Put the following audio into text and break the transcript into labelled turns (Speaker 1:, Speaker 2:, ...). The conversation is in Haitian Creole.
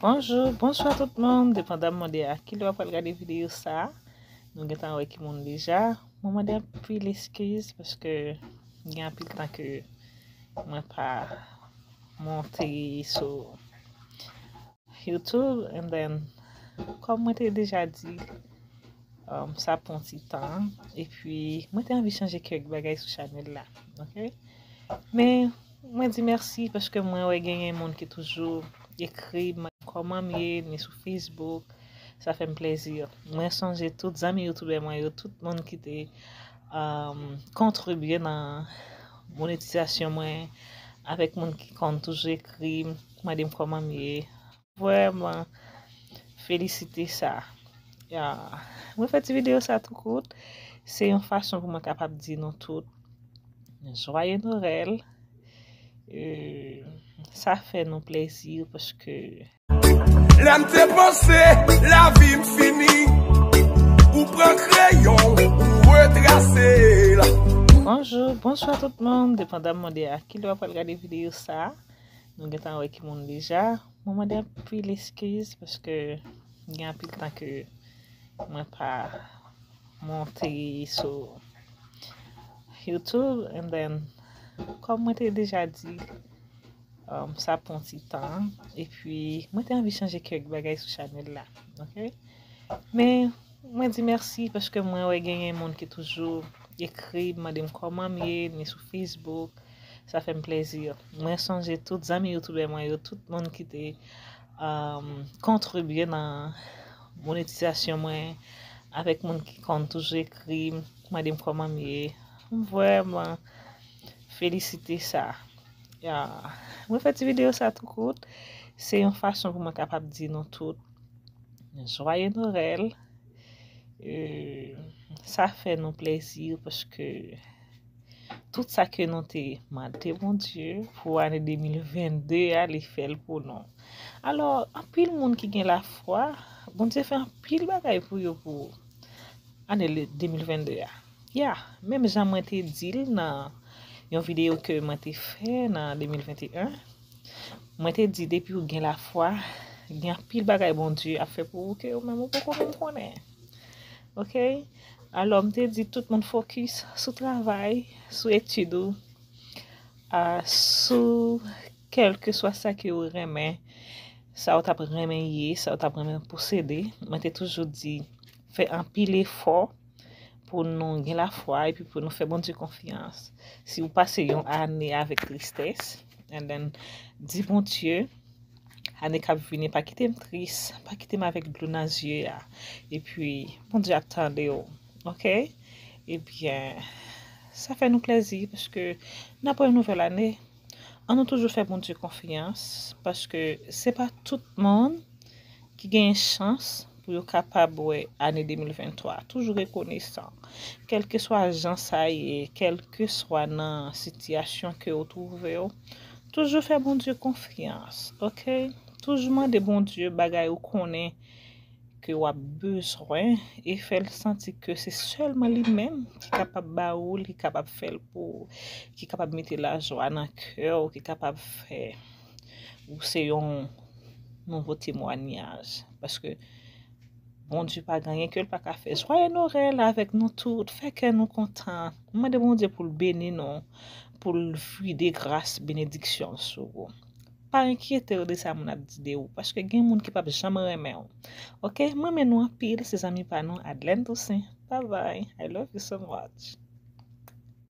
Speaker 1: Bonjou, bonswa tout moun, depandamman de a ki lè wap pral gade videyo sa, nou gentan wè ki moun deja, mwen mande anpil eskiz paske gen anpil tan ke mwen pa monte sou YouTube and then kòm mwen te deja di um, sa pon ti tan epi mwen te anvi chanje kèk bagay sou chanel la, ok? Men Mwen di mèsi paske mwen wè genyen moun ki toujou ekri m kòmanm ye ni sou Facebook sa fèm plèzi mwen sonje tout zanmi youtubè mwen yo tout moun ki te kontribye nan monetizasyon mwen avèk moun ki konn toujou ekri m mande m kòmanm ye Vreman felisite sa. Mwen fè ti video sa tou kout. Se yon fason pou mwen kapab di nou tout. Joye Norel. Sa fè nou plezi paske. Lè m
Speaker 2: te panse lavi m fini. Ou pran kreyon ou retrase l. Bonjou,
Speaker 1: bonswa tout moun. Depandamman de a kilè w ap pral gade video sa. Nou gentan wè ki moun deja. Mwen mande anpil eskiz paske gen anpil tan ke mwen pa monte sou YouTube and then kòm mwen te deja di um, sa pon ti tan epi mwen te anvi chanje kèk bagay sou chanel la. Ok? Men mwen di mèsi paske mwen wè genyen moun ki toujou ekri mande m kòman m ye ni sou Facebook Sa fèm plezi. Mwen sonje tout zanmi youtubè mwen yo, tout moun ki te kontribye nan monetizasyon mwen, avèk moun ki konn toujou ekri m, mande m kòman m ye. M vrèman felisite sa. Mwen fè ti videyo sa tou kout, se yon fason pou mwen kapab di nou tout jwaye Noel. Sa fè nou plezi paske. Tout sa ke nou te mande Bondye pou ane 2022 a, li fè l pou nou. Alò, anpil moun ki gen lafwa, Bondye fè anpil bagay pou yo pou ane 2022 a. Ya, menm jan mwen te di l nan yon videyo ke mwen te fè nan 2021, mwen te di depi ou gen lafwa, gen anpil bagay Bondye ap fè pou ou ke ou menm ou poko menm konnen. Ok alò m te di tout moun fokis sou travay, sou etid ou, sou kèlkeswa sa ke ou renmen, sa ou t ap renmen ye, sa ou t ap renmen posede. Mwen te toujou di fè anpil efò pou nou gen lafwa epi pou nou fè Bondye konfyans. Si ou pase yon ane avèk tristès, and then di Bondye. Ane kap vini pa kitem tris, pa kitem avèk dlo nan zye a, epi Bondye ap tandew ok, ebyen sa fè nou plèzi paske nan pran yon nouvèl ane, an nou toujou fè Bondye konfyans paske se pa tout moun ki genyen chans pou yo kapab wè ane 2023 a toujou rekonesan kèlkeswa jan sa ye kèlkeswa nan sitiyasyon ke ou twouve w toujou fè Bondye konfyans ok toujou mande Bondye bagay ou konnen ke wap bezwen e fèl santi ke se sèlman li menm ki kapab ba ou l ki kapab fèl pou ou ki kapab mete lajwa nan kè ou ki kapab fè Ou se yon nouvo temwanyaj. Paske, Bondye pa gen anyen ke l pa ka fè. Jwaye Norèl avèk nou tout. Fè kè nou kontan. Mwen mande Bondye pou l beni nou. Pou l vide gras benediksyon l sou ou. Pa enkyete ou de sa moun ap di de ou. Paske gen moun ki pap janm renmen ou. Ok? M renmen nou anpil. Se zanmi pa nou Adlèn Tousen. Bye bye. I love you so much.